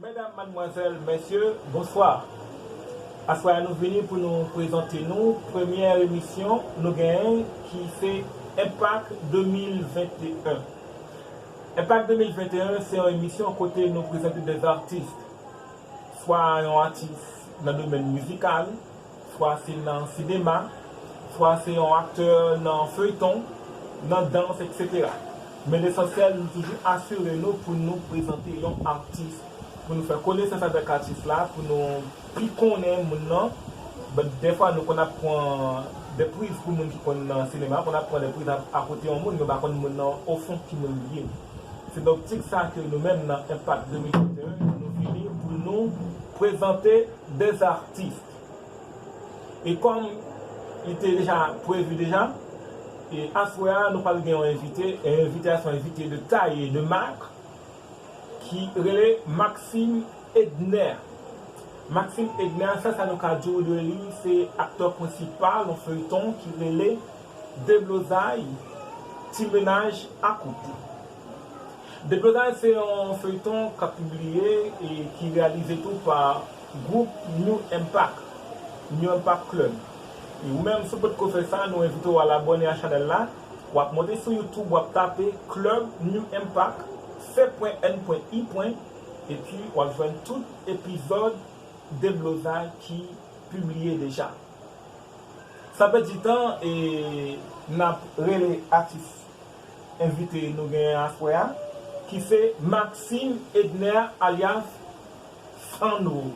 Medam, madmwazèl, mèsye, bonswa! Aswè a nou vini pou nou prezante nou premyè emisyon nou genyen ki se Enpak 2021. Enpak 2021 se yon emisyon kote nou prezante 2 artist, swa yon atis nan domèn mizikal, Fwa se nan sinema, fwa se yon aktè nan feyton, nan dans etc. Men lesansyèl nou toujou asire nou pou nou prezante yon atis, pou nou fè konesans avèk atis la, pou nou pi konnen moun nan. Dèfwa nou konn ap pran de priz pou moun ki konn nan sinema, konn ap pran de priz akote yon moun, nou pa konn moun nan ofon ki moun li ye. Se nan optik sa ke nou menm nan Enpak 2021 nou vini pou nou prezante. Des artistes. E kòm li te deja prevu deja, e aswè a nou pral gen yon envite, e envite a se yon envite de taille et de marque ki rele Maxime Edner. Maxime Edner sa sa nou ka di w de li, se aktè prensipal yon feuilleton ki rele Deblozay, Ti Menaj Akoute. Depi Lòtay se yon feyton kap pibliye e ki reyalize tou pa gwoup New Impact, New Impact Club. Ou menm si w potko fè sa nou envite w al abòne a chanèl la, wap monte sou youtube wap tape Club New Impact C.N.I. epi wap jwenn tout epizòd Deblozay ki pibliye deja. San pèdi tan e nap rele atis. Envite nou genyen aswè a ki se Maxime Edner alyas Sandro.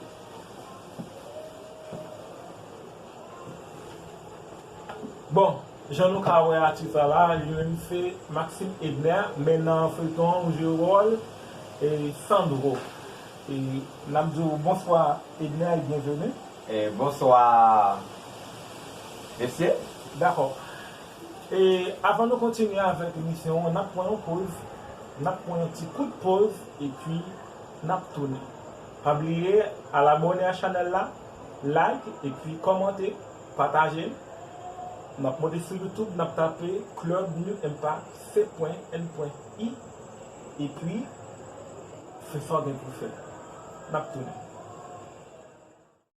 Bon, jan nou ka wè atis la la, li menm se Maxime Edner men nan feyton an ou jwe wòl Sandro. E n ap di w bonswa Edner e byenveni. Bonswa mesye. Dakò. E avan nou kontinye avèk emisyon an nap pran yon poz nap pran yon ti kout poz epi nap tounen pa bliye al abòne a chanèl la like epi kòmante pataje l nap monte sou YouTube nap tape club nu mpa se pwen n pwen i epi fè sa w gen pou fè nap tounen.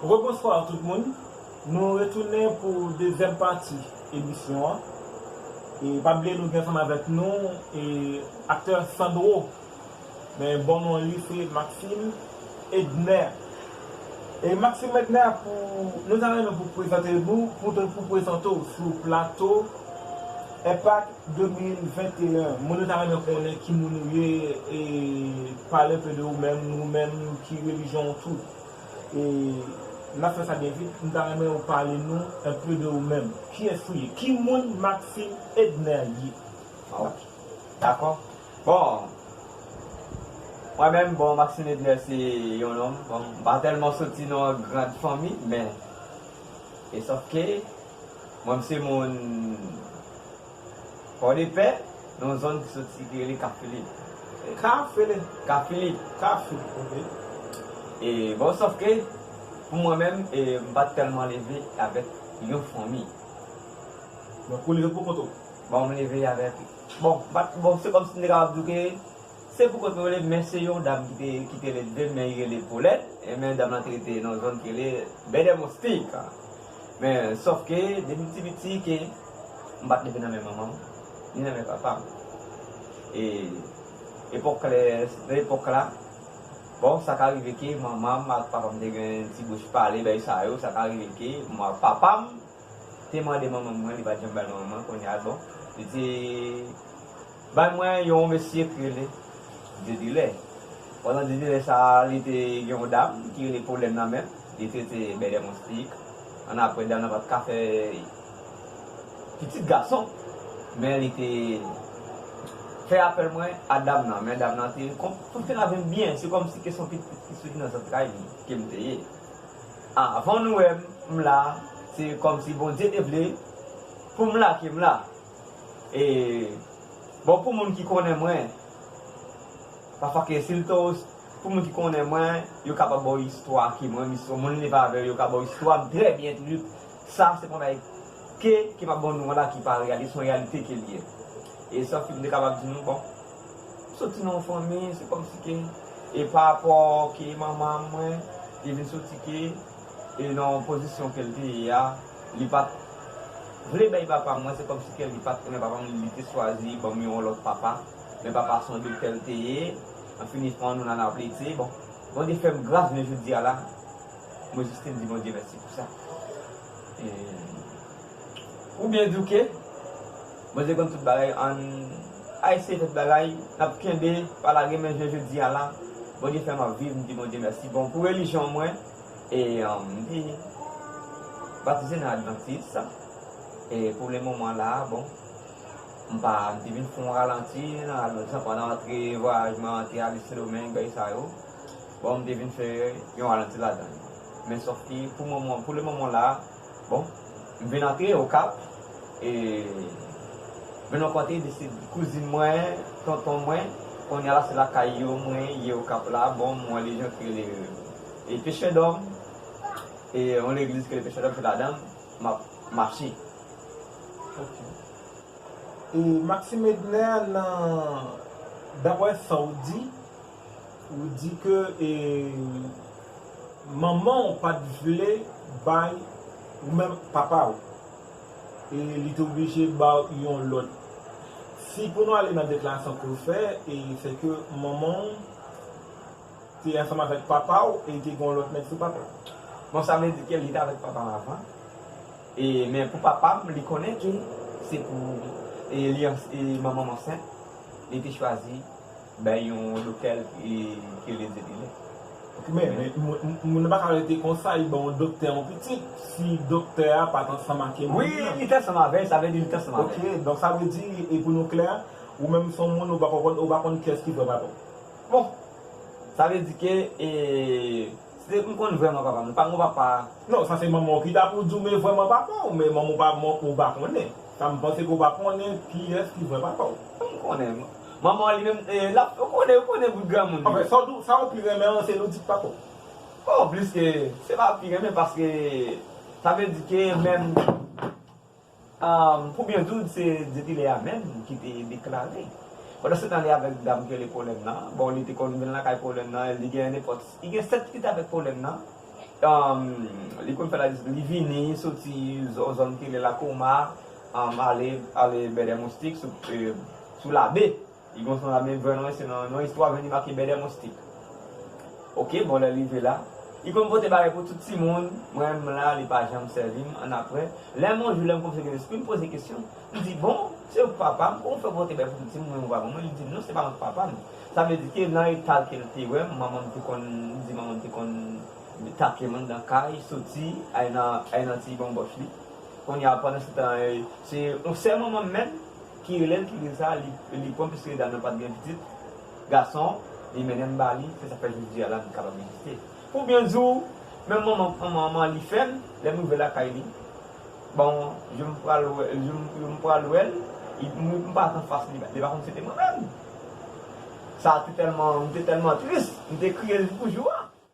Rebonsoir tout moun, nou retounen pou dezyèm pati emisyon an e pa bliye nou gen ansanm avèk nou aktè Sandro men bon non li se Maxime Edner e Maxime Edner pou nou ta renmen pou prezante nou pou prezante w sou plato Epac 2021 Moun yo ta renmen konnen ki moun ou ye e pale un peu de ou menm ou menm ki religion ou tou e nap fè sa byen vit nou ta renmen ou pale nou un peu de ou menm kiyès ou ye ki moun Maxime Edner ye ok dakò bon mwen menm bon Maxime Edner se yon nonm bon m pa tèlman soti nan yon grand fanmi men e sòf ke. Mwen m se moun Pòdepè, nan yon zòn ki soti ki rele Ka Filip. Ka fele? Ka Filip. Ka Filip, ok. E bon, sòf ke pou mwen menm, m pa t tèlman leve avèk yon fanmi. Donk ou leve pou kont ou? Bon, m leve avèk, bon, m pa t, bon, se kòmsi m te kapab di w ke se pou kont mwen yo leve, men se yon dam ki te, ki te leve, men li rele Polèt, e men dam lan te rete nan yon zòn ki rele Bèdèmonsi. Men, sòf ke, depi m ti piti ke m pa t leve nan men manman m, ni nan men papa m. E, epòk lè, nan epòk la, bon, sa ka rive ke manman m ak papa m te gen ti bouch pale, bagay sa yo, sa ka rive ke papa m te mande manman mwen, li pa t janm bay manman mwen, kounye a, bon, li te. Bay mwen yon mesye ki rele Didilè. Pandan Didilè sa a, li te gen yon dam ki rele Polèn nan men l. Li te rete Bèlè Monstik. Annapre, dam nan pa t ka fè pitit gason, men li te fè apèl mwen a dam nan. Men dam nan te konn pouse l avè m byen. Se kòmsi ke se yon pitit ki soti nan zantray li ke m te ye. Avan nou wè m, m la. Se kòmsi Bondye te vle pou m la ke m la. E bon pou moun ki konnen mwen pafwa ke sil to pou moun ki konnen mwen yo kapab baw istwa ke mwen menm si son moun live avèw yo ka baw istwam trè byen toujou sa se pwen bagay ke ke map baw nouvo la ki pa reyalite son reyalite kel ye e sèl sak mte kapab di nou bon m soti nan yon fanmi se kòmsi ke e pa rapò ke manman mwen te vin soti ke e nan yon pozisyon kel te ye a li pat vle bay papam mwen se kòmsi kèli pat renmen papam lite chwazi banm yon lòt papa men papa son doktèl teye anfini fon nou nan lavi tiye bon Bondye fèm gras jounen jodia la mwen jis te di Bondye mèsi pou sa eeii ou byen douke Bondye konn tout bagay ann eseye fè tout bagay nap kenbe pa lage men jounen jodia la Bondye fèm ap viv mdi Bondye mèsi bon pou relijyon mwen. E m te batize nan advantis. E pou le moman la, bon, m pa, m te vin fon ralanti nan advantis la pandan antre vwayaj mwen antre ale Sendomeng bay sa yo. Bon, m te vin fè yon ralanti ladan l. Men sòf ke pou moman, pou le moman la, bon, m vin antre Okap. E m vin rankontre de se kouzin mwen, tonton mwen. Kounye a la se lakay yo mwen ye Okap la. Bon, m wè le jan ke le. E peche dòm e yon legliz ke peche dòm fèt ladanl map mache. Ok. E Maxime Edner nan daprè sa ou di, ou di ke e manman ou pat vle bay ou menm papa ou. E li te oblije ba ou yon lòt. Si pou nou ale nan deklarasyon ke ou fè e se ke manman ou te ansanm avèk papa w e te gen yon lòt nèg sou papa w. Bon sa vle di ke li te avèk papa m avan e men pou papa m li konnen ke se pou e li e manman m ansent li te chwazi bay yon doktè l e ke li di li lè. Ok men moun nan pa ka rete konsa li ban yon doktè yon pitit si doktè a pat ansanm ake moun nan. Wi li te ansanm avè l sa vle di li te ansanm avè l. Ok donk sa vle di e pou nou klè ou menm son moun ou pa konn ou pa konn kiyès ki papa w. Bon! Sa vle di ke e. Se m konn vrèman papa m. Li pa gon papa. Non, sa se manman w ki ta pou di w men vrèman papa w, men manman w pa manman ou pa konnen. Sa m panse ke w pa konnen kiyès ki vrè papa w. M konnen. Manman w li menm e l ap. Ou konnen, ou konnen bout granmoun li. Anfen, sa w di w, sa w pi renmen an se Ludzik papa w? Bon, pliske. Se pa pi renmen paske. Sa vle di ke menm. Pou byen di w, se depi lè a menm ki te deklare. Pandansetan li avèk dam ki rele Polèn nan, bon li te konn vin lakay Polèn nan, li gen nenpòt, li gen 7 pitit avèk Polèn nan, li konn fè la, li vini soti yon zòn ki rele Lakoma, ale Bèdèmoustik sou Labe. Li gon son la men vwa mwen se nan yon istwa vini make bèdè moustik ok bon lèl rive la li konn pote bagay pou tout timoun mwen m la li pa janm sèvim annapre lèm yon jou lèm kòmnse gen lesprim poze kesyon m di bon se ou k papam kòman w fè pote bagay pou tout timoun mwen m vwa manmanm li dim non se pa mwen k papam sa vle di ke nan etal kel te wèm manmanm te konn li di manmanm te konn takem anndan kay soti al nan ti banbòch li kounya pandan se tan se yon sè manmanm menm. Ki relel ki gin sa li pwan piske li dam nan pat gen pitit gason li mennenm bali se sak fè jodia la li kapab egziste pou byen diw menm manman an li fèm lèm rive lakay li bon jou m pral jou m pral wèl m pa k anfas li li pa konn sete mwen menm sa te tèlman m te tèlman tris m te kriye jouk pou jou a.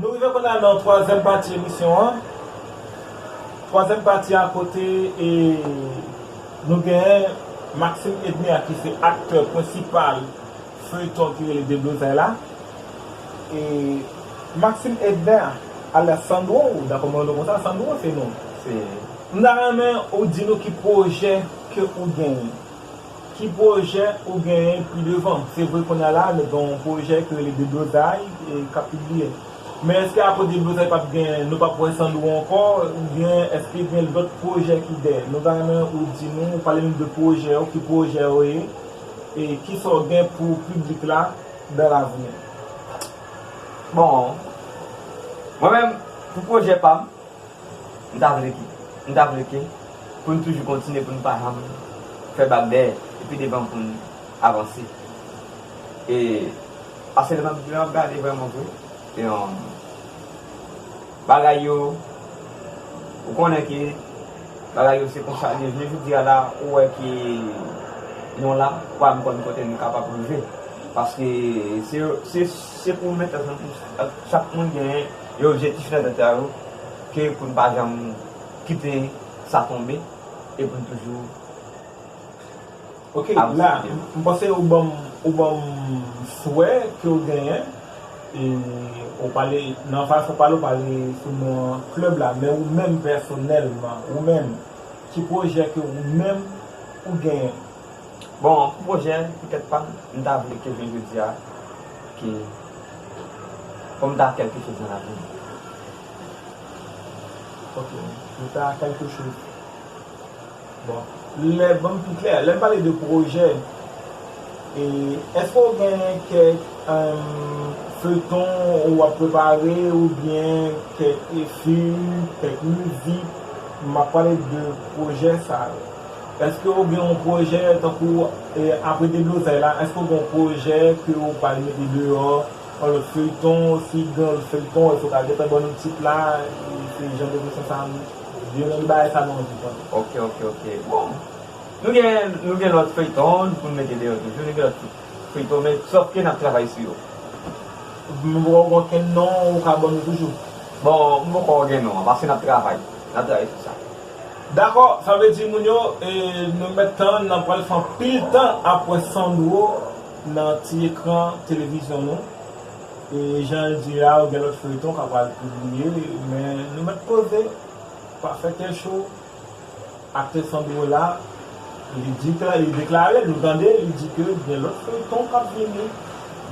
Nou rive kounya nan twazyèm pati emisyon an, twazyèm pati a kote nou gen Maxime Edner ki se aktè prensipal feuilleton ki rele Deblozay la e Maxime Edner alyas Sandro ou dakò mwen rele w konsa Sandro se non se. M ta renmen ou di nou ki pwojè ke ou genyen. Ki pwojè ou genyen pi devan? Se vre kounye a la nou gen yon pwojè ki rele Deblozay k ap pibliye. Men èske apre Deblozay pap gen, nou pap wè Sandro ankò oubyen èske gen lòt pwojè ki dèyè? Nou ta renmen ou di nou, ou pale nou de pwojè ou, ki pwojè yo ye e kisa w gen pou piblik la dan lavni? Bon, mwen menm pou pwojè pa m, M ta vle ke, m ta vle ke pou n toujou kontinye pou n pa janm fè bak dèyè epi devan pou n avanse. E pase lè m ap, lè m ap gade vrèman vre, e bagay yo, ou konnen ke bagay yo se konsa l ye. Jounen jodi a la, ou wè ke nou la, ou pa menm konn kote nou kapab rive. Paske se, se pou nou mete tèt ansanm pou chak moun genyen. Yon objektif nan tèt yo ke pou n pa janm kite sa tonbe e pou n toujou Ok la m panse ou banm ou banm swè ke w genyen e ou pale nan fason w pale ou pale sou non an club la men ou menm pèsonèlman ou menm ki pwojè ke ou menm ou genyen? Bon pou pwojè pou tèt pam m ta vle ke jounen jodi a ke fòm ta kèlke choz nan lavim. Ok pou ta kèlke choz bon lè banm pi klè lèn pale de pwojè e eske ou gen kèk feyton ou wap prepare ou byen kèk fim kèk mizik map pale de pwojè sa yo. Eske ou gen yon pwojè tankou apre deblozay la eske ou gen yon pwojè ke ou pral mete deyò yon lòt feyton si gen yon lòt feyton eske ou ka gentan ban nou tit la se jan de kesyon sa yon nan de bagay sa nou anvi konnen. Ok ok ok bon nou gen nou gen lòt feyton poun mete deyò toujou nou gen lòt feyton men sòf ke nap travay sou yo. Men poko gen okenn non ou ka ban nou toujou? Bon m poko gen non an paske nap travay nap travay sou sa. Dakò sa vle di moun yo nou mèt tann nan pral fè anpil tan ap wè Sandro nan ti ekran televizyon nou e janl di la yo gen lòt feyton kap pral pibliye men nou mèt poze pa fè kè cho aktè Sandro la li di ke li deklare nou tande li di ke gen lòt feyton kap vini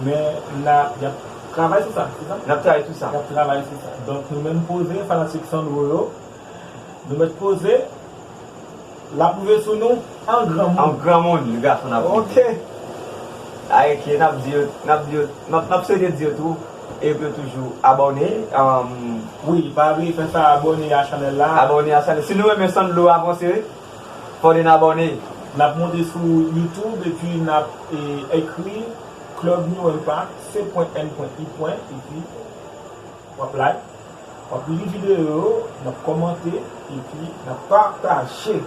men nap yap travay sou sa se sa? Nap travay sou sa. Yap travay sou sa donk nou menm poze fanatik Sandro yo. Nou met poze Lap rive sou nou an granmoun An granmoun li gason nap rive Ok Ay ok nap di yo Nap di yo Nap swete di yo tou E pou yo toujou abòne Wi pa bliye fè sa abòne a chanèl la Abòne a chanèl Si nou renmen San Dlo avanse Fò nou abòne Nap monte sou YouTube epi nap ekri Club New Impact C.N.I. Epi. W ap like, w ap li videyo yo, n ap kòmante epi n ap pataje.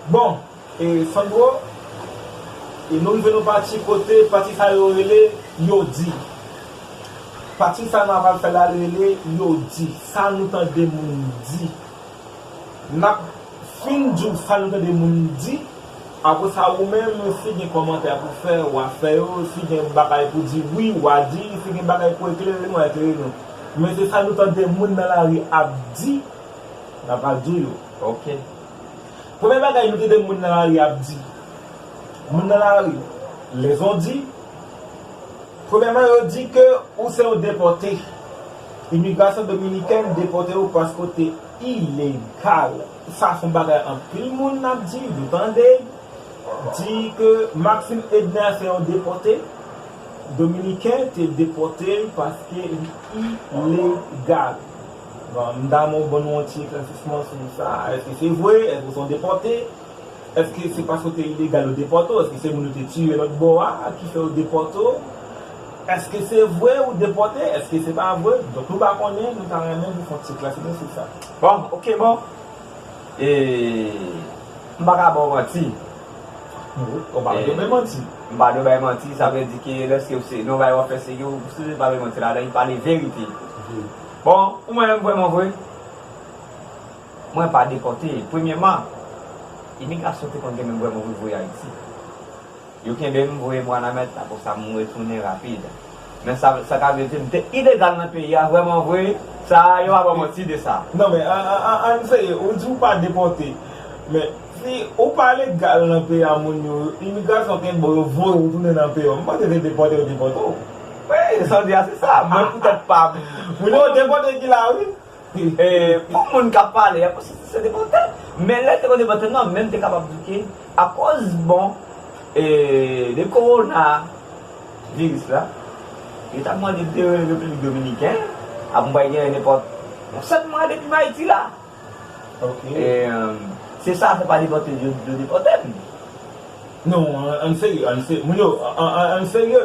Bon, e Sandro, e nou rive nan pati kote, pati sa yo rele Yo di. Pati sa nou apral fè la li rele Yo di. Sa nou tande moun di. Map Finn di w sam tande moun di, apre sa ou menm si gen kòmantè pou fè wa fè yo, si gen bagay pou di wi wa di, si gen bagay pou eklere nou wa eklere nou. Men se sa nou tande moun nan lari ap di na pral di w yo ok. Premye bagay nou tande moun nan lari ap di, moun nan lari lezondi premyèman yo di ke ou se yon depòte. Imigrasyon dominikèn depòte yo paske w te ilegal sa son bagay anpil moun ap di nou tande di ke Maxim Edner se yon depòte dominiken te depòte l paske li ilegal bon m ta renmen w ban nou yon ti eklèsisman sou sa èske se vre èske se yon depòte. Eske se paske w te ilegal yo depòte w? Eske se moun yo te tiye lòt bò a ki fè yo depòte w? Eske se vre ou depòte? Eske se pa vre? Donk nou pa konnen, nou ta renmen pou fon ti eklèsi nou sou sa. Bon, ok bon, e, m pa ka ba w manti. Ou pa dwe bay manti. M pa dwe bay manti, sa vle di ke lèske w se, nan yon bagay w ap fè se ke ou sipoze pa bay manti ladan, pale verite. Bon, ou mwen menm vrèman vre. Mwen pa depòte. Premyeman, imigrasyon te konn gen menm voye mwen vin voye Ayiti. Yo kenbe m, voye m Wanament, apre sa m retounen rapid. Men sa sa ta vle di, m te ilegal nan peyi a vrèman vre, sa a yo pa ban manti de sa. Non men, ann serye, ou di ou pa depòte, men si ou pa legal nan peyi a moun yo, imigrasyon kenbe w, yo voye w tounen nan peyi yo, m panse se depòte yo depòte w. Wi, sa w di a se sa, mwen poutèt pa m. Moun yo depòte ki la wi. Pou moun k ap pale a, konsèp sa se te vòtè. Men lè te konn te vòtè nou ap menm te kapab di ke akòz bon de kowona viris la, yo ta mande de Repiblik Dominiken ap mwen pa gen nenpòt yon 7 mwa depi m Ayiti la. Se sa fè pa depòte yo depòte m. Non, ann serye, ann serye. Moun yo, ann serye.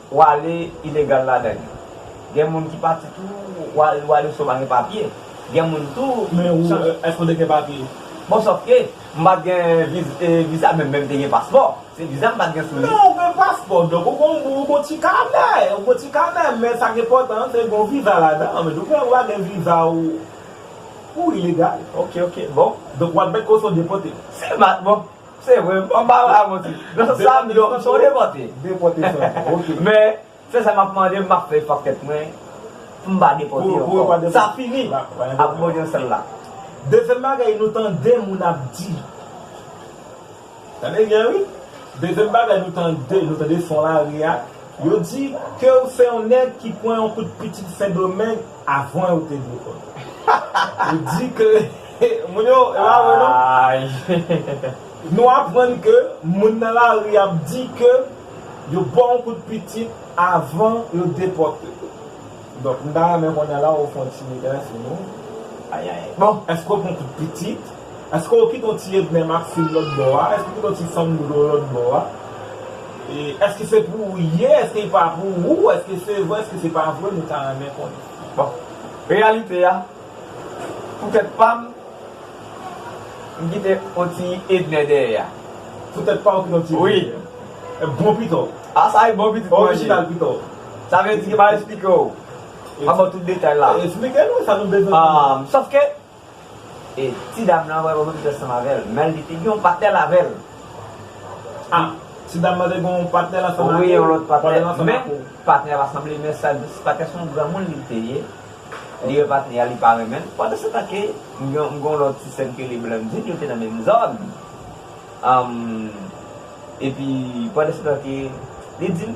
Wale ilegal ladan li. Gen moun ki pati tou wale wale so pa gen papye gen moun tou Men ou eske ou te gen papye? Bon sòf ke m pat gen viza menm menm te gen paspò se viza m pat gen sou li. Men ou gen paspò donk ou gon ou gon ti kanè ou gon ti kanè men sa ki enpòtan an se gon viza ladan an men ou gen ou pa gen viza ou ou ilegal. Ok ok bon. Donk wap mèt koson depote. Se mat bon. Se vre, m pa pral manti. Nan sans sa, m yo, m son depòte. Depòte san fon, ok. Men, se sa m ap mande, m ap fè efò ak tèt mwen pou m pa depòte ankò. Pou ou pa depòte. Sa fini ak modyon sèl la. Dezyèm bagay nou tande moun ap di. Tande byen wi. Dezyèm bagay nou tande, nou tande son lari a, yo di ke ou se yon nèg ki pran yon kout pitit Sendomeng. Avan yo te dwe konnen. Ou di ke moun yo, e pa vre non? Nou aprann ke moun nan lari ap di ke yo ba w yon kout pitit avan yo depòte w. Donk m ta renmen konnen la ou fè yon ti degaj sou nou. Ayayy. Bon, èske ou pran kout pitit? Eske ou kite yon ti edme maxime lòt bò a eske ou kite yon ti sandro lòt bò a eske se pou ou ye eske pa pou ou eske se vre eske se pa vre nou ta renmen konnen bon reyalite a pou tèt pam m kite yon ti edne dèyè a pou tèt paw ou kite yon ti edne dèyè a bon pito a sa e bon pitit mwen ye sa vle di ke m pa esplike ou m pa baw tout detay la esplike nou sa nou bezwen konnen sofke. E ti dam lan wè Roberto te sanm avèl menl li te gen yon patnèl avèl ah ti dam lan te gen yon patnèl ansanm ak ou wi yon lòt patnèl ansanm ak ou men patnèl la sanble men sak di patnèl son granmoun li te ye li wè patnèl a li pa renmenl pandan se tan ke m gen yon lòt ti sèm ki rele Blandine yo te nan menm zòn humm epi pandan se tan ke li dim.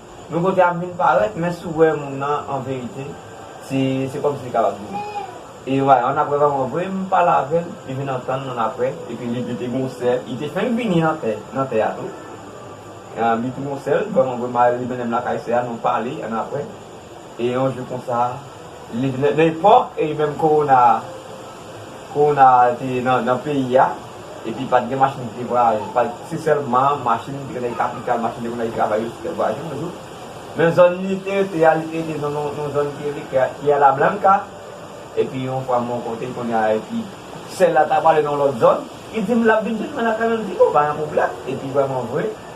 Yon kote ap vin parèt men si w wè moun nan an verite se se kòmsi li kapab di e yo va yon aprè va yon vre m pale avè l li vin antann moun aprè epi li te gen yon sè li te fenk vini nan tè nan tè a tou li te gen yon sè l vrèmanvre m ale li mennen m lakay sè a nou pale ann aprè. E yon jou konsa nan epòk e menm kowona a kowona a te nan peyi a epi pa t gen machin ki te vwayaje pa se sèlman machin ki te nan kapital machin te konn al travay yo te fè vwayaje yon jou men zòn li te rete a li te rete nan yon zòn ki rele Tierra Blanca epi yon fwa m rankontre l kounye a epi sè l la ta pral ale nan yon lòt zòn li di m l ap vin jwenn mwen lakay mwen m di o pa gen pwoblèm epi vrèmanvre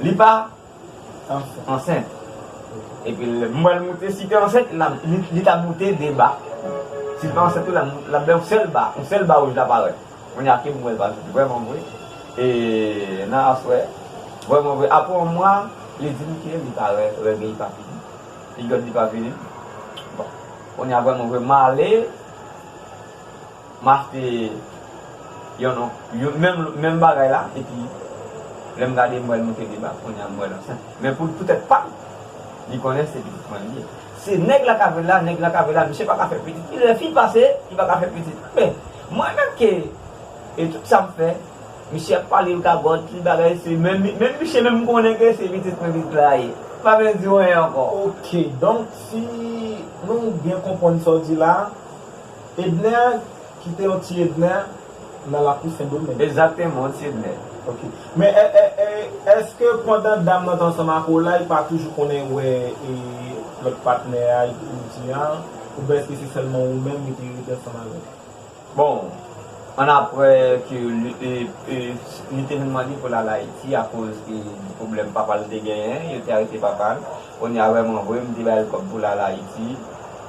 Li pa ansent. Epi l m wè l moute. Si te ansent, l ap, li t ap moute 2 ba. Si l pa ansent tou, l ap moute, l ap bay yon sèl ba. Yon sèl ba wouj la parèt. Kounye a ke m wè l parèt vrèman vre. E nan aswè, vrèman vre, apre yon mwa, li di m ke li pa wè règ li pa fini. Piryòd li pa fini. Bon, kounye a vrèman vre, m ale. Maf te yon non yon menm menm bagay la epi lèm gade m wèl moute deba kounya m wèl ansent men pou poutèt pam li konnen se pitit mwen li ye se nèg la ka vèl la nèg la ka vèl la misye paka fè pitit li lè fi pase li paka fè pitit men mwen menm ke e tout sam fè misye ap pale l gagòt tout bagay se menm menm misye menm m konnen ke se pitit mwen pitit la ye m pa bezwen diw anyen ankò. Ok donk si nou byen konpwann sa w di la. Edner kite yon ti Edner nan lakou sendomeng. Exactement yon ti Edner. Ok men eske pandan dam nan t ansanm ak ou la li pa toujou konnen wè lòt patnè a ou di a oubyen eske se sèlman ou menm li te rete ansanm avèk. Bon an aprè ke li te vin mande poul al ayiti akoz de pwoblèm papal te genyen yo te arete papal. Kounye a vreman vre m te bay l kob pou l al ayiti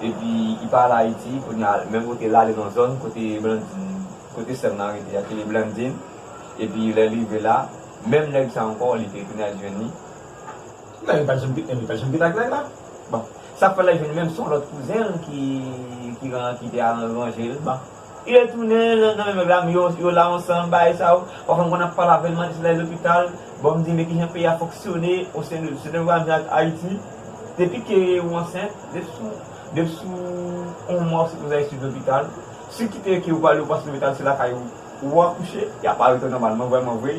epi li pa al ayiti kounye a men kote l ale nan zòn kote blandine kote sèm nan rete a ki rele blandine epi lè l rive la menm nèg sa ankò li te tounen al jwenn li men li pat janm li pat janm geta ak nèg la bon sak fè l al jwenn li menm son lòt kouzen l ki te al ranje l bon. Yo tounen nan nan menm mèb la men yo yo la ansanm bagay sa yo pafwa m konn ap pale avèl mande si lè lopital bon m di men kijan peyi a fonksyone o sen de se te vwa menm ak ayiti depi ke ou ansent depi sou depi sou on mwa ou sipoze al swiv lopital si w kite ke ou pa ale ou pa swiv lopital se lakay ou ou akouche y ap arete w nòmalman vrèman vre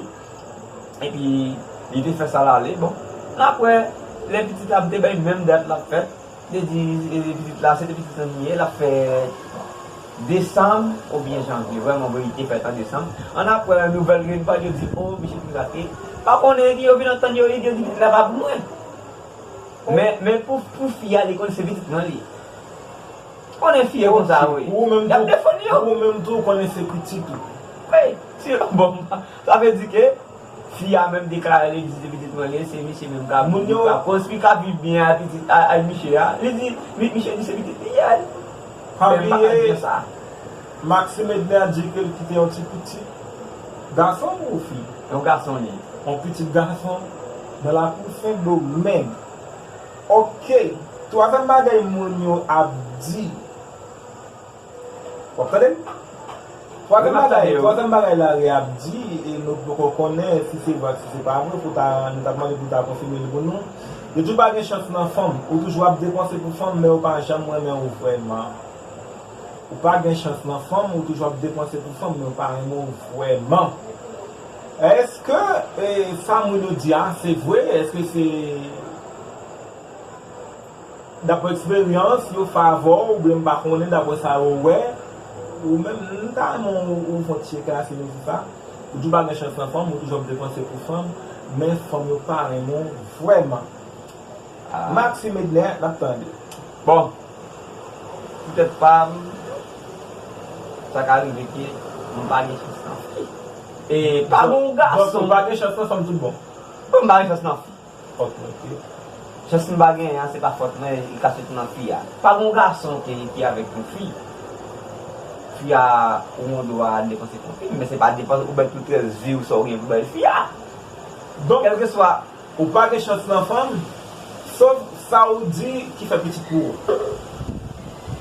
epi li te fè sa l ale bon apre lè pitit la m te bay menm dat l ap fèt. Li di pitit la se te pitit an li ye, l ap fè desanm oubyen janvye. Vrèman vre li te fèt an desanm. Annapre nouvèl vin pran yo di o misye pirate. Pa konnen epi yo vin antann yo epi yo di pitit la pa pou mwen. Men pou fi a li konn se pitit mwen li ye. Ou konnen fi yo konsa wi. Y ap defann yo. Ou menm tou ou konnen se pitit ou. Wi. Sa vle di ke. Fi a menm deklare li di se pitit mwen li ye, se miche menm kap viv yo, kap konstwi, kap viv byen a pitit a a miche a, li di, miche di se pitit li ye, men m pa ka di yo sa. Maxime Edner a di ke l kite yon ti pitit gason ou fi? Yon gason li ye. Yon pitit gason nan lakou Sendomeng. Ok, twazyèm bagay moun yo ap di. Wap tande? Twazyèm bagay, twazyèm bagay Larry ap di e nou poko konnen si se vre ak si se pa vre pou ta, nou tap mande pou ta konfime l pou nou, yo di ou pa gen chans nan fanm, ou toujou ap depanse pou fanm men ou pa janm renmen ou vrèman. Ou pa gen chans nan fanm, ou toujou ap depanse pou fanm men ou pa renmen ou vrèman. Eske sa moun yo di a se vre? Eske se. Dapre eksperyans yo favè w oubyen m pa konnen dapre sa yo wè ou menm m ta renmen ou fon ti eklèsi sou nou sou sa ou di w pa gen chans nan fanm ou toujou ap depanse pou fanm men fanm yo pa renmen w vrèman Maxime Edner nap tande. Bon pou tèt pa m sa ka rive ke m pa gen chans nan fi e pa gen yon gason. Donk ou pa gen chans nan fanm tout bon? Bon m pa gen chans nan fi. Fòt mwen ke chans m pa genyen an se pa fòt mwen li ka soti nan fi a. Pa gon gason ke li pi avèk yon fi. Fi a ou gon dwa depanse pou fi men se pa depanse ou bay tout rès vi w sa w genyen pou bay fi a. Donk kèlkeswa. Ou pa gen chans nan fanm sof sa ou di ki fè pitit pou ou.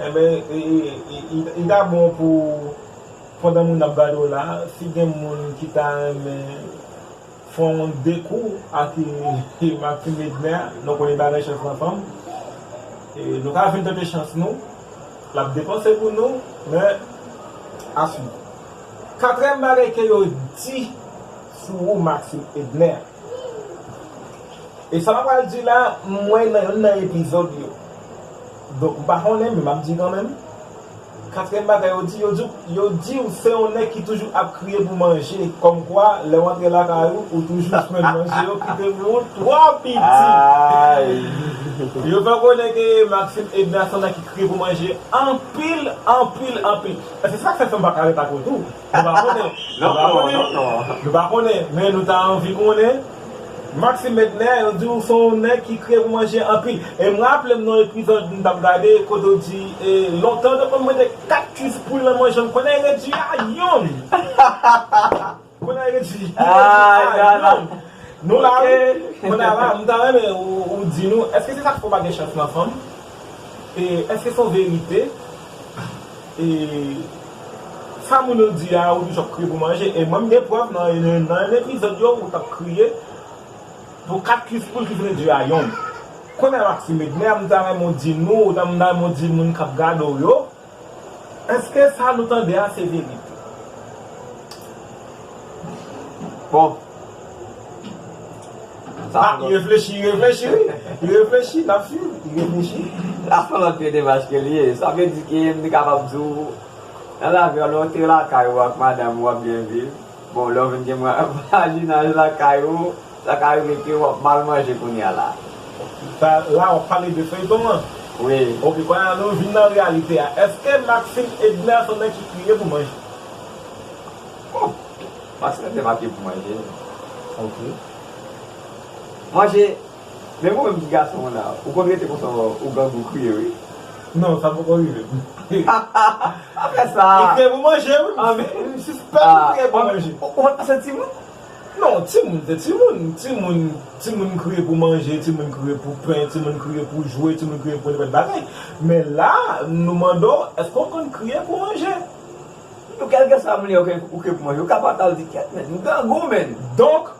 Enben li ta bon pou pandan moun ap gade w la si gen moun ki ta renmen fè yon de kou ak Martine Medner nou konnen bagay chans nan fanm nou ka vin tante chans nou l ap depanse pou nou men a swiv. Katrèm bagay ke yo di sou ou Maxime Edner. E sa map pral di la m wè nan youn nan epizòd yo Donk m pa konnen men map di kanmenm Katriyèm bagay yo di yo di w yo di w se yon nèg ki toujou ap kriye pou manje Kòmkwa lè w antre lakay ou ou toujou jwenn manje yo kite pou ou twò piti Yo fè konnen ke Maxime Edna se yon nèg ki kriye pou manje anpil anpil anpil E se sa k fè m pa ka ret ak ou tou Nou pa konnen, nou pa konnen, nou pa konnen, men nou ta anvi konnen. Maxime Medner, yo di ou se yon nèg ki kriye pou manje anpil. E m raple m nan yon epizòd m t ap gade kote ou di e lontan yo te konn mete 4 kuiz poul nan manje m. Kounye a yo redui a youn. Kounye a yo redui a youn. Nou la wi. Kounye a la, m ta renmen ou di nou, èske se sa k fè ou pa gen chans nan fanm? Eske son verite e sa moun yo di a ou toujou ap kriye pou manje e mwen m gen prèv nan yon epizòd yo ou tap kriye pou 4 kis poul ki vle di a yon kounya Maxime Edner m ta renmen w di nou ou ta m ta renmen w di moun kap gade w yo Eske sa nou tande a se verite? Bon. Ah, li reflechi, li reflechi wi. Li reflechi, n ap swiv. Li reflechi. Sa son lòt trete mach ke li ye. Sa vle di ke m te kapab di w, nan lavi a lè w te lakay ou ak madanm ou w ap byen viv, Bon lè ou vin gen vwazinaj lakay ou sa ka rive ke wap mal manje kounya la. Sa la wap pale de feyton an? Wi. Ok konye a nou vin nan reyalite a eske Maxine Edner son nèg ki kriye pou manje? Bon Maxine Edner pa kriye pou manje. Ok. Manje. Men ou menm ti gason w la ou konn rete konsa ou gang ou kriye wi. Non sa poko rive m. Aprè sa. Li kriye pou manje wi m sispèk li kriye pou manje. Ou pat pase timoun? Non timoun se timoun, timoun timoun kriye pou manje, timoun kriye pou pen, timoun kriye pou jwe, timoun kriye pou nenpòt bagay. Men la nou mande w èske w konn kriye pou manje? Ou kèlkeswa moun li ou kriye pou manje ou ka fatal di kyèt menn m grangou menn. Donk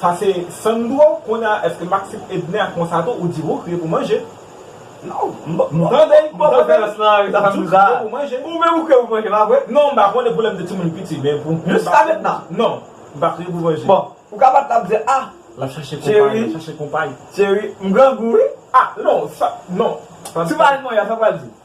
Sa se Sandro, konnya eske Maxime Edner ak Monsato ou di wou kriye pou manje? Non, m pa m tande l, m tande l, m di w kriye pou manje. Ou menm ou kriye pou manje pa vre? Non, m pa konnen pou lè m te timoun piti men pou m jiska mentnan? Non, m pa kriye pou manje. Bon, ou ka pa t ap di a, cheri, cheri, m grangou wi? A, non, sa, non, sa. Si w pa al manyan sa w pral di?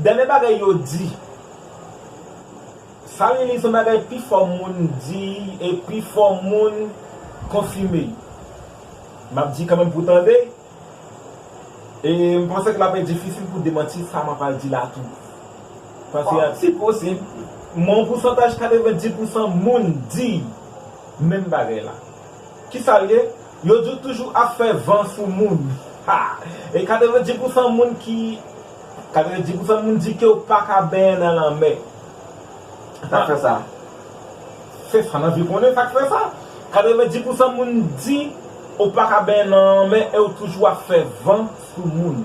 Dènye bagay yo di. Sa li li se bagay pi fò moun di e pi fò moun konfime. M ap di kanmenm pou w tande, e m panse ke l ape difisil pou w demanti sa m apral di la tou. Paske a tit posib, m wè yon pousantaj 90 pousan moun di menm bagay la. Kisa l ye? Yo di w toujou ap fè van sou moun. Ha! E 90 pousan moun ki 90 pousan moun di ke w pa ka benyen nan lanmè. Sa k fè sa? Se sa n anvi konnen, sa k fè sa? 90 pousan moun di w pa ka benyen nan lanmè e w toujou ap fè van sou moun.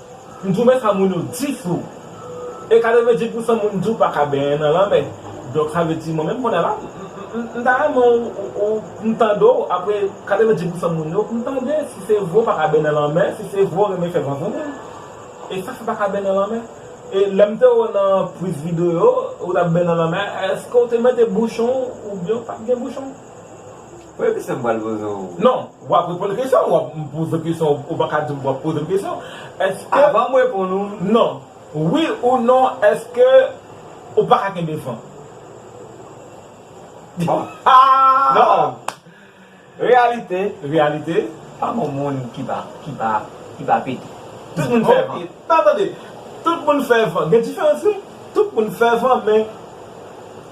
M twouve sa moun yo di flou. E 90 pousan moun di w pa ka benyen nan lanmè. Donk sa vle di mwen menm kounye la m ta renmen w m tande w apre 90 pousan moun yo m tande si se vre w pa ka benyen nan lanmè si se vre w renmen fè vanvonmen. E sa fè w pa ka benyen nan lanmè? E lè m te wè w nan priz videyo ou t ap benyen nan lanmè èske w te mete bouchon w oubyen w pat gen bouchon? Premye kesyon m pral poze w. Non, w ap reponn kesyon an, w ap poze m kesyon an, ou pa ka di m w ap poze m kesyon an. Èske. Avan m reponn ou. Non. Wi ou non èske ou pa ka kenbe fanm? Bon. Non. Reyalite. Reyalite. Pa gen yon moun ki pa, ki pa, ki pa pete. Tout moun fè fanm. Tan tande. Tout moun fè fanm. Gen diferans wi. Tout moun fè fanm men.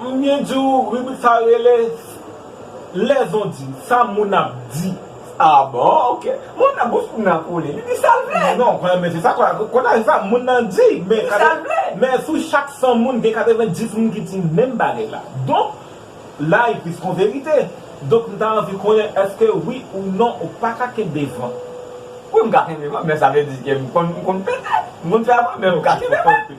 M byen di w ribrik sa rele Les on dit, sa moun ap di. Ah bon ok Moun nan bouch moun nan kole li di sal vle. Non men se sa konsa se sa moun nan di men men sou chak 100 moun gen 90 moun ki di menm bagay la donk la li plis kon verite donk m ta anvi konnen eske wi ou non ou pa ka kenbe van. Wi m ka kenbe van men sa vle di ke m konn pete m konn fè van men m ka kenbe van.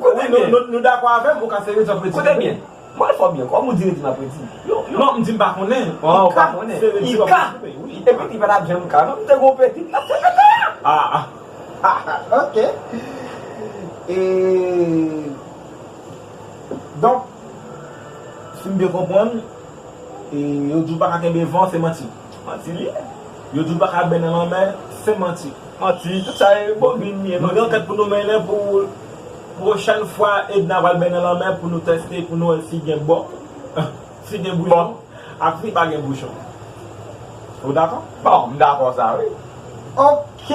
Koute byen. Nou dakò avè m, ou ka sere di map redi. Koute byen. Mwen fò byen, kòm ou di redi map redi. Non, m di m pa konnen. Ah, ou pa konnen. I ka. Epi li pa tap janm ka non. M te gen yon pitit lap te fete a. Ah. Ok. E. Donk, si m byen konprann, e yo di w pa ka kenbe van, se manti. Manti li ye. Yo di ou paka bè nan lanmè, se manti. Manti, tout sa e bobin li ye. Nou gen ankèt pou nou mennen pou pwochèn fwa Edna pral bè nan lanmè pou nou teste pou nou wè si gen bò, si gen bouchon ak si pa gen bouchon. Ou dakò? Bon, m dakò sa wi. Ok!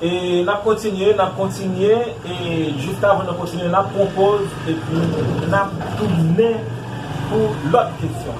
E nap kontinye, nap kontinye e jiskavan nou kontinye nap pran poz epi nap tounen pou lòt kesyon.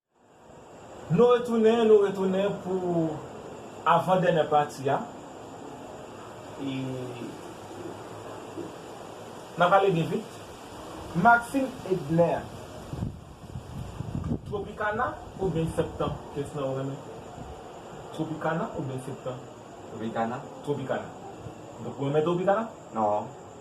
Nou retounen nou retounen pou avan dènè pati a e nap ale byen vit. Maxime Edner Tropicana oubyen septan kès nan ou renmen Tropicana oubyen septan. Tropicana. Tropicana. Donk ou renmen Tropicana? Non.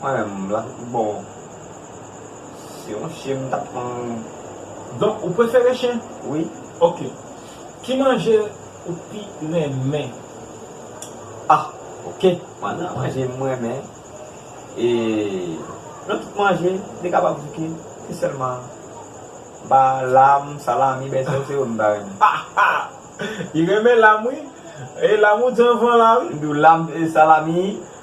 Mwen menm la se pi bon se yon chien m tap pran. Donk ou prefere chen? Wi. Ok. Ki manje ou pi renmen? Ah ok mwen nan manje m renmen e nan tout manje li kapab bouke se sèlman m pa lam, salami, bèsèl se yo m pa renmen. Li renmen lam wi. E lam ou di anvan la wi. M di w lam, salami,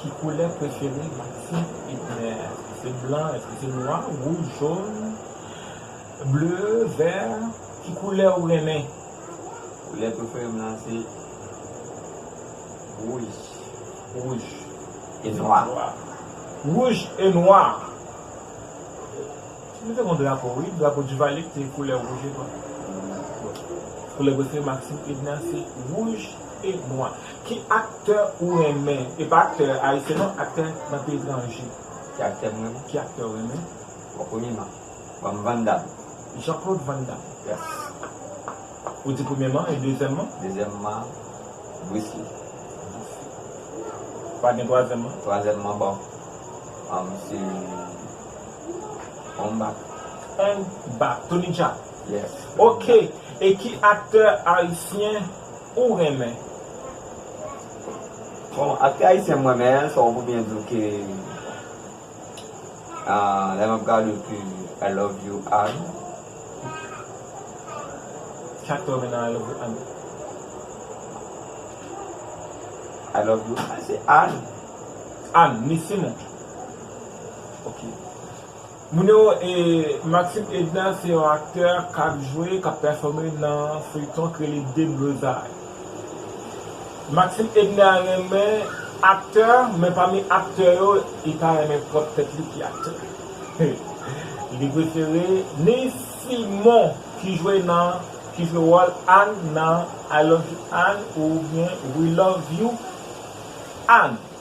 Ki koulè prefere Maxime Hitner? Eske se blan, eske se nwa, wouj, jón, ble, vè? Ki koulè ou renmen? Koulè prefere m lan se wouj, wouj e nwa. Wouj e nwa. Nou te gen yon drapo wi, drapo Duvalier ki te koulè wouj e nwa. Koulè prefere Maxime Hitner se wouj e nwa. Ki aktè ou renmen e pa aktè ayisyen non aktè nan peyi tranje. Ki aktè m renmen. Ki aktè ou renmen. Bon premyeman banm van dam. Jean Claude van dam. Yes. Ou di premyeman e dezyèmman. Dezyèmman Bruce Lee. Bruce Lee. Pa gen twazyèmman. Twazyèmman bon se Ong Bak. Ong Bak. Tony Jaa. Yes. Ok e ki aktè ayisyen. ou renmen Bon atis ayisyen m renmen an so ou pou byen di w ke lè map gade w ke I love you Anne I love you Anne se Anne Anne ni Simon ok. Moun yo, e Maxime Edna se yon aktè kap jwe, kap pèfòme nan feyton k rele Deblozay. Maxime Edna renmen aktè, men pami aktè yo, li pa renmen pwòp tèt li ki aktè. Li prefere Neiss Simon ki jwe nan, ki jwe wòl Ann nan I love you Ann oubyen We love you Ann.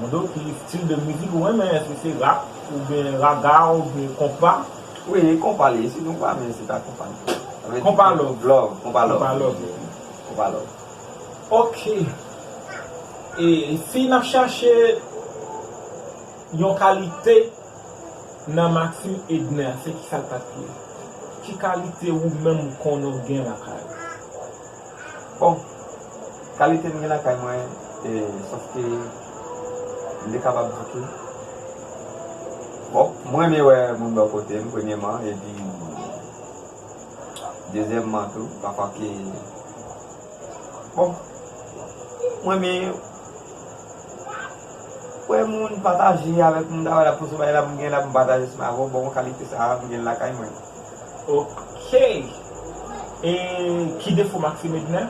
Modo ki stil de mizik ou renmen eske se rap ou byen raga ou byen konpa. Wi e konpa li ye si nou pa men se ta konpa nou fè. Konpa love. Konpa love. Konpa love. Ok e si nap chache yon kalite nan Maxime Edner se kisa l tap ye? Ki kalite ou menm ou konnen ou gen lakay ou? Bon kalite m gen nan kay mwen sof ke m te kapab di ke bon m renmen wè moun bò kote m premyeman epi dezyèmman tou pafwa ke bon m renmen wè moun pataje avèk moun m ta wè lap pouse m bagay lap m gen lap m pataje seman avèk ou bon kalite sa a m gen lakay mwen. Ok e ki defo maxime edner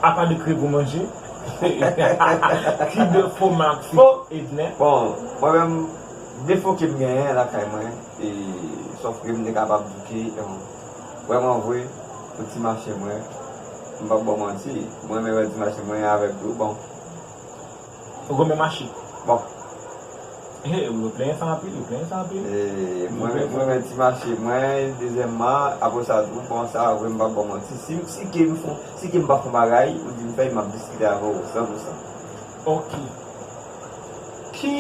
apa de krye gou manje hahaha ki defo maxime edner. Bon mwen menm defo kem genyen lakay mwen e sof ke mte kapab di ke vreman vre pou ti mache mwen mpap baw manti mrenmen wè ti mache mwen avèk ou bon. Rome mache bon he wi yo plenyen sa anpil yo plenyen sa anpil. Mwen renmen ti mache mwen dezyèmman apre sa tou bon sa vre m pap baw manti si kem fon si kem pa fon bagay ou dim fèl map diskite avèw san pou san. Ok ki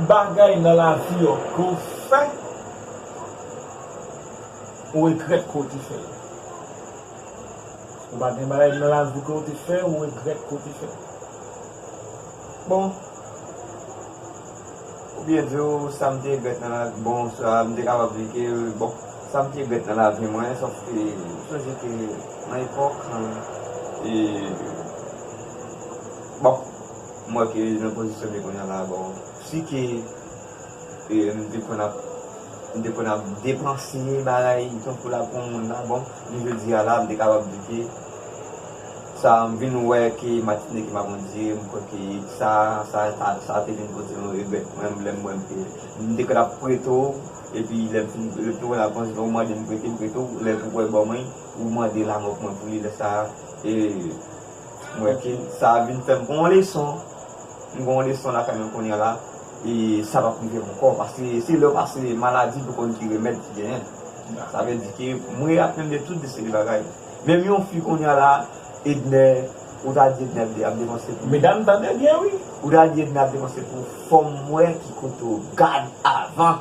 bagay nan lavi w ke w fè ou regrèt ke w te fè l Ou pa gen bagay nan lavi ke ou te fè ou regrèt ke ou te fè? Bon, ou byen di ou sa m te regrèt nan lavi, bon sa m te kapab di ke bon sa m te regrèt nan lavi mwen sòf ke m sonje ke nan epòk e bon m wè ke nan pozisyon m ye kounya la bon si ke e m te konn ap m te konn ap depanse bagay tankou la pou moun la bon. Jounen jodi a la, m te kapab di ke sa m vin wè ke matine ke m ap andire, m kwè ke sa, sa ta, sa te vin pote yon regrèt pou mwen, lè m wè ke m te konn ap prete w, epi lè m fin, lè m fin wè nan konsekans ou mande m prete, m prete w, lè pou wè ban mwen, ou mande lamò pou mwen pou li, lè sa a, e m wè ke sa vin fè m pran yon leson. M gen yon leson lakay mwen kounye a la e sa p ap rive m ankò paske se lè w pase maladi pou w konn ki remèd ki genyen. Sa vle di ke m reaprann de tout de seri bagay. Menm yon fi kounye a la Ednè, ou ta di Ednè ap depanse pou. Medam tande byen wi! Ou ta di Ednè ap depanse pou fò m wè ki kote w gad avan.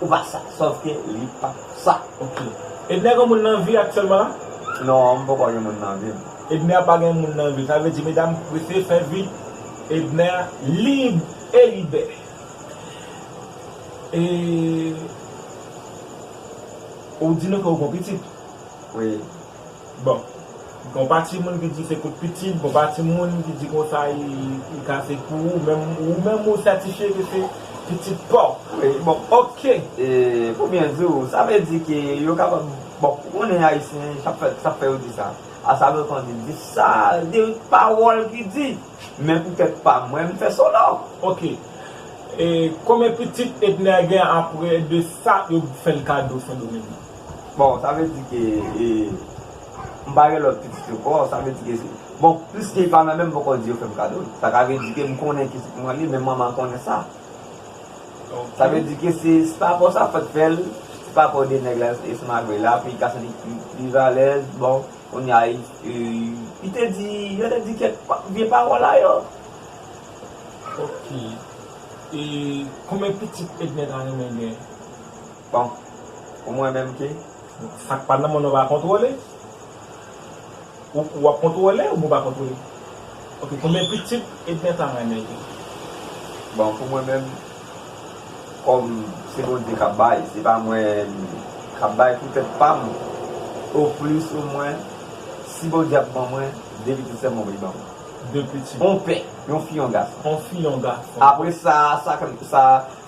Ou pa sa. Sòf ke li pa sa. Ok. Edner gen moun nan vi aktyèlman la? Non, m poko gen moun nan vi m. Edner pa gen moun nan vi l. Sa vle di medam prese fè vi Edner lib e libè. E ou di nou ke ou gon pitit? Wi. Bon. Gon pa ti moun ki di se kout pitit, gon pa ti moun ki di konsa li ka se pou ou, men ou menm ou sètifye ke se pitit paw. Wi, bon ok. E pou byen di ou, sa vle di ke yo kapab, bon ou konnen ayisyen sa fè yo di sa, a sa lòt an di, di sa, de pawòl ki di, men pou tèt pa mwen m fè solo. Ok. E konbyen pitit Edner gen apre de sa yo fèl kado sendomeng? Bon sa vle di ke e m pa gen lòt pitit yo kò sa vle di ke se bon piske li pa nan menm m poko di yo fè m kado l sa ka vle di ke m konnen ki sèkman li men manman konnen sa sa vle di ke se se pa kò sa fèk fè l se pa kò de nèg la e se malgre la pou li ka santi li pi alèz bon kounye a e li te di yo te di kèk vye pawòl a yo ok e konbyen pitit Edne ta renmen gen. Bon pou mwen menm ki. Sak pa nan men w nan pa kontwole ou wap kontwole oubyen w pa kontwole ok konbyen pitit Edner ta renmen gen. Bon pou mwen menm kòm se Bondye kap bay se pa mwen kap bay pou tèt pam o plis o mwen si Bondye ap ban mwen 2 pitit sèm mwen vle ban mwen 2 pitit on pè yon fi yon gason on fi yon gason apresa sa sa.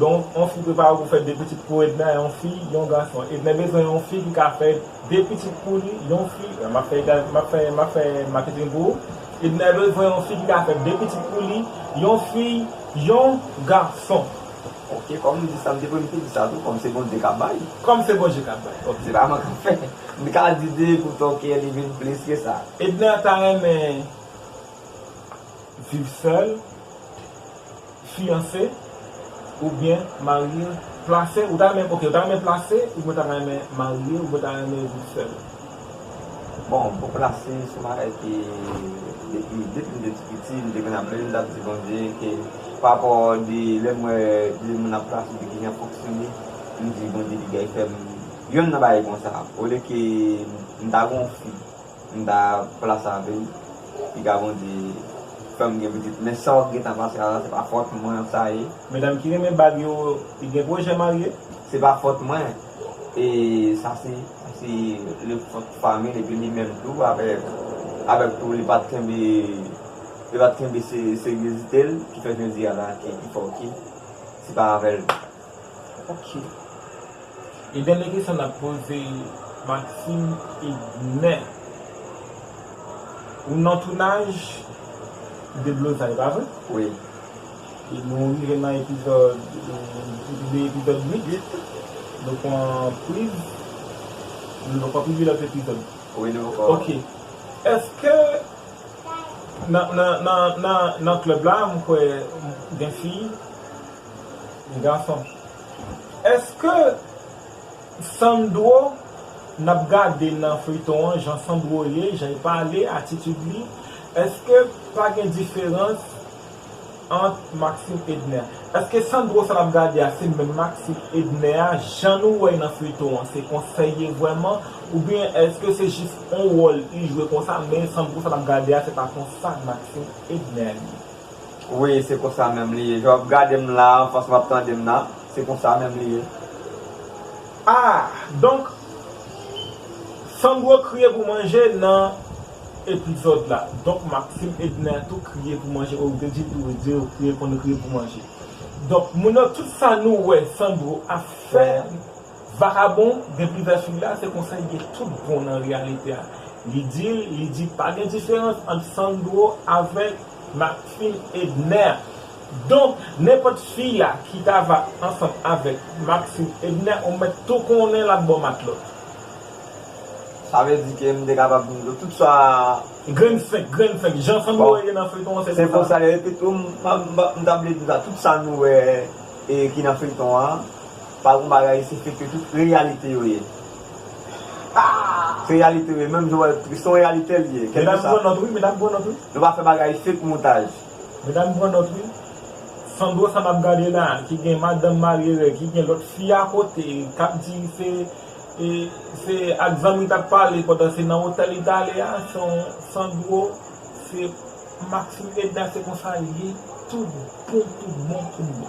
Don yon fi prepare w pou fè 2 pitit pou Edna yon fi yon gason Edna bezwen yon fi ki ka fè 2 pitit pou li yon fi map fè map fè map fè maketing pou ou Edna bezwen yon fi ki ka fè 2 pitit pou li yon fi yon gason ok kòm m di sa m te premte di sa tou kòm se Bondye kap bay kòm se Bondye kap bay ok se pa mwen kap fè m ka di 2 pou tò kè li vin plis ke sa Edna ta renmen Viv sèl, fiyanse, oubyen marye, plase, ou ta renmen, ok, ou ta renmen plase, oubyen ou ta renmen marye, oubyen ou ta renmen viv sèl? Bon, pou plase, se yon bagay ke depi, depi m te ti piti, m te konn ap priye, m t ap di Bondye ke pa rapò de lè m wè de moun ap plase, de kijan y ap fonksyone, m di Bondye degay fè m yonn nan bagay konsa, olye ke m ta gen yon fi. M ta plas la anpil pi ka bondye fèm gen pitit men sa wap gentan pase a la se pa fòt mwen sa ye. Medam ki renmen bag yo gen pwojè marye? Se pa fòt mwen e sa se sa se le fòt famil epi li menm tou avèk avèk tou li pat kenbe li pat kenbe seryezitel ki fè jodi a la ki fè ok se pa avèl Ok. Gen dènye kesyon n ap poze Maxime Edner. Ou nan tounaj Deblozay, pa vre? Wi. E nou rive nan epizòd, depi de epizòd 8, nou pran priz, nou poko pibliye lòt epizòd. Wi, nou poko. Ok. Èske nan klèb la, m kwè gen fi. Gason. Eske Sandro nap gade nan feyton an jan Sandro ye janl pale atitid li eske pa gen diferans ant Maxime Edner eske Sandro sa nap gade a se menm Maxime Edner a jan nou wèy nan feyton an se konsal ye vrèman oubyen eske se jis on wòl li jwe konsa men Sandro sa nap gade a se pa konsa Maxime Edner ye. Wi se konsa menm li ye jan wap gadem la an fason wap tandem la se konsa menm li ye ah donk Sandro kriye pou manje nan epizòd la donk Maxime Edner tou kriye pou manje oh ou te dil tou wi di yo kriye konn kriye pou manje donk moun yo tout sa nou wè Sandro ap fè. Vakabon gen plizyè fig la se konsa li gen tout bon nan reyalite a li dil li di pa gen diferans ant Sandro avèk Martfin Edner donk nenpòt fi la ki ta va ansanm avèk Martfin Edner ou mèt tou konnen lap bò matlòt. Sa vle di ke m te kapab di nou tout sa. Grenn fenk grenn fenk jan Sandro ye nan feyton an se konsa. Se konsa li ye epitou m ta vle di nou sa tout sa nou wè ki nan feyton an. Pa gon bagay isi fek yo tout reyalite yo ye se reyalite yo ye menm jan wèl tris se yon reyalite li ye medam pran nòt wi medam pran nòt wi nou pa fè bagay fek montaj medam pran nòt wi Sandro sa nap gade la ki gen madanm marye règ ki gen lòt fi akote kap di se se ak zanmi li tap pale pandan se nan otèl li tale a son Sandro se Maxime Edna se konsa liye tout bon tout bon tout bon.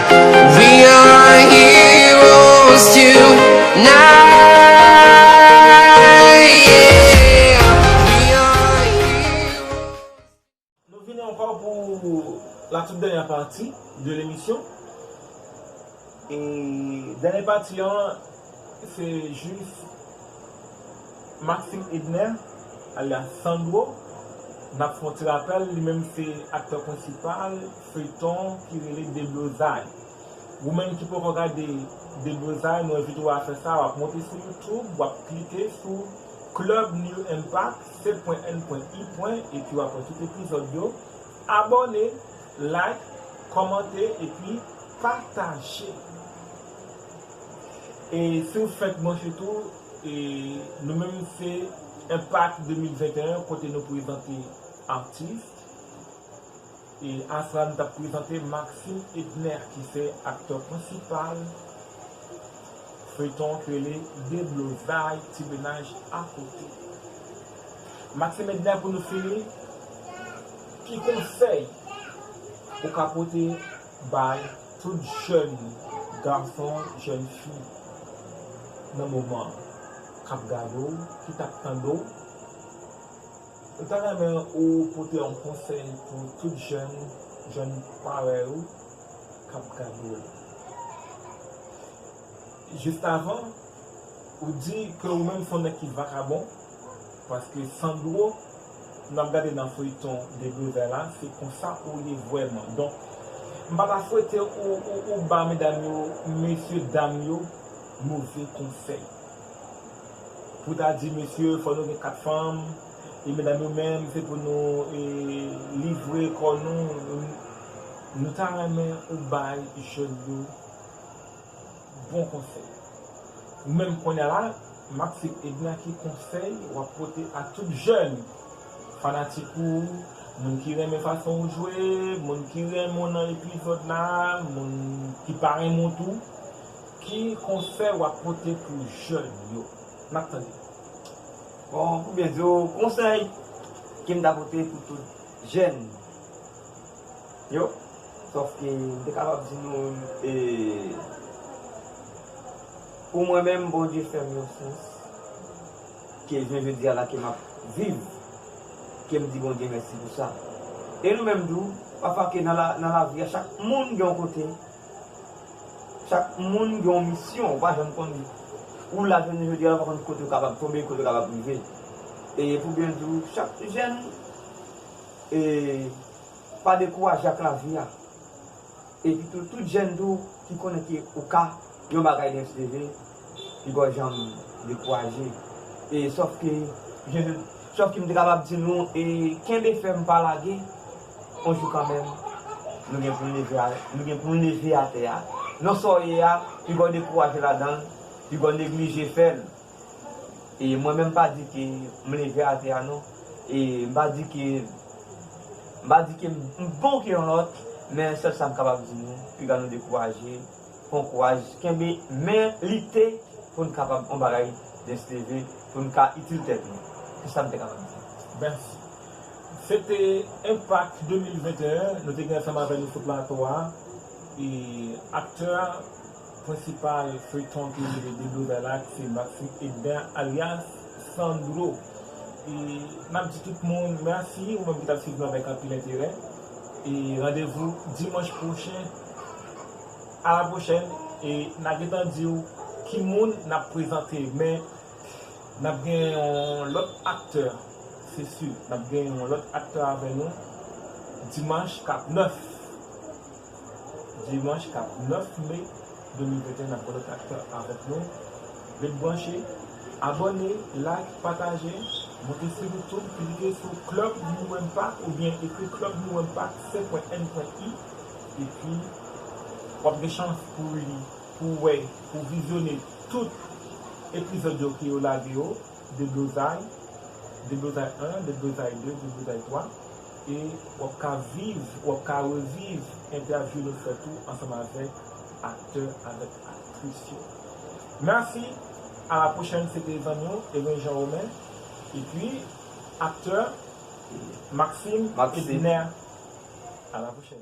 We are heroes tonight, yeah, we are heroes. Nou vini ankò pou la tout dènyè pati de lemisyon e dènyè pati an se jis Maxime Edner alyas Sandro nap fè yon ti rapèl li menm se aktè prensipal Feyton ki rele deblozay. Ou menm ki poko gade deblozay mwen envite w a fè sa wap monte sou youtube wap klike sou club new impact se-pwen-en-pwen-i pwen epi wap wè tout epizòd yo abòne like kòmante epi pataje e si w fenk branche tou e nou menm se impact 2021 kote nou prezante artist. Astra nou tap prezante Maxime Edner ki se aktè prensipal feyton an ki rele deblozay ti menaj akote Maxime Edner pou nou fini ki konsèy ou ka pote bay tout jèn gason jèn fi nan moman kap gade w ki tap tande w. Ou ta renmen ou pote yon konsèy pou tout jèn jèn parèy ou k ap gade w? Jistavan, ou di ke ou menm se yon nèg ki vakabon, paske Sandro n ap gade nan feyton Deblozay la se konsa ou ye vrèman. Donk, m pa ta swete ou ba medam yo, mesye dam yo move konsèy. Pou ta di mesye fò nou gen 4 fanm e medam yo menm se pou nou livre kò nou nou ta renmen ou bay jèn yo bon konsèy ou menm kounya la map se Edna ki konsèy wap pote a tout jèn fanatik ou moun ki renmen fason ou jwe moun ki renmen w nan epizòd la moun ki pa renmen w tou Ki konsèy wap pote pou jèn yo? Map tande. Bon pou byen diw konsèy kem ta pote pou tout jèn yo sòf ke m te kapab di nou e pou mwen menm Bondye fèm yon sans ke jounen jodia la ke map viv kem di Bondye mèsi pou sa e nou menm tou pafwa ke nan lavi a chak moun gen yon kote Chak moun gen yon misyon, ou pa janm konn li. Ou la jounen jodi a ou pa konn kote ou kapab tonbe, kote ou kapab rive. E pou byen di ou, chak jèn e pa dekouraje ak lavi a. Epi tou, tout jèn tou ki konnen ke ou ka yon bagay lens leve, li pa w janm dekouraje. E sòf ke, sòf ke m te kapab di nou e kenbe fèm pa lage. On jou kanmenm, nou gen pou n leve a, nou gen pou n leve atè a. Non sa w ye a, pi gwo dekouraje ladan l, pi gwo neglije fè l. E mwen menm m pa di ke m leve atè a non. E m pa di ke, m pa di ke m bon ke yon lòt, men sèl sa m kapab di nou, piga nou dekouraje, pran kouraj, kenbe, men lite pou n kapab on bagay dens leve, pou n ka itil tèt nou. Se sa m te kapab di. Mèsi. Se te Enpak 2021, nou te gen ansanm avè nou sou plato a e aktè prensipal feyton ki rele Deblozay la ki se Maxime Edben alyas Sandro. E nap di tout moun mèsi ou menm ki tap swiv nou avèk anpil enterè e randevou dimanch pwochen a la pwochèn e na gentan diw ki moun nap prezante men Nap gen yon lòt aktè se su nap gen yon lòt aktè avè nou dimanch kap 9 dimanch kap 9 me 2021 nap gen lòt aktè avèk nou ret branche abòne like pataje monte su youtube klike su club mourempa oubyen ekri club mourempa se pwen n pwen i epi wap gen chans pou li. Pou w wè, pou w vizyone tout epizòd yo ke yo lage yo, Deblozay, Deblozay 1, Deblozay 2, Deblozay 3, e w ap ka viv, w ap ka reviv entèvyou nou fè tou ansanm avèk aktè avèk aktris yo. Mèsi, a la pwochèn se te zanmi w Evens Jean Romain epi aktè Maxime Edner. A la pwochèn.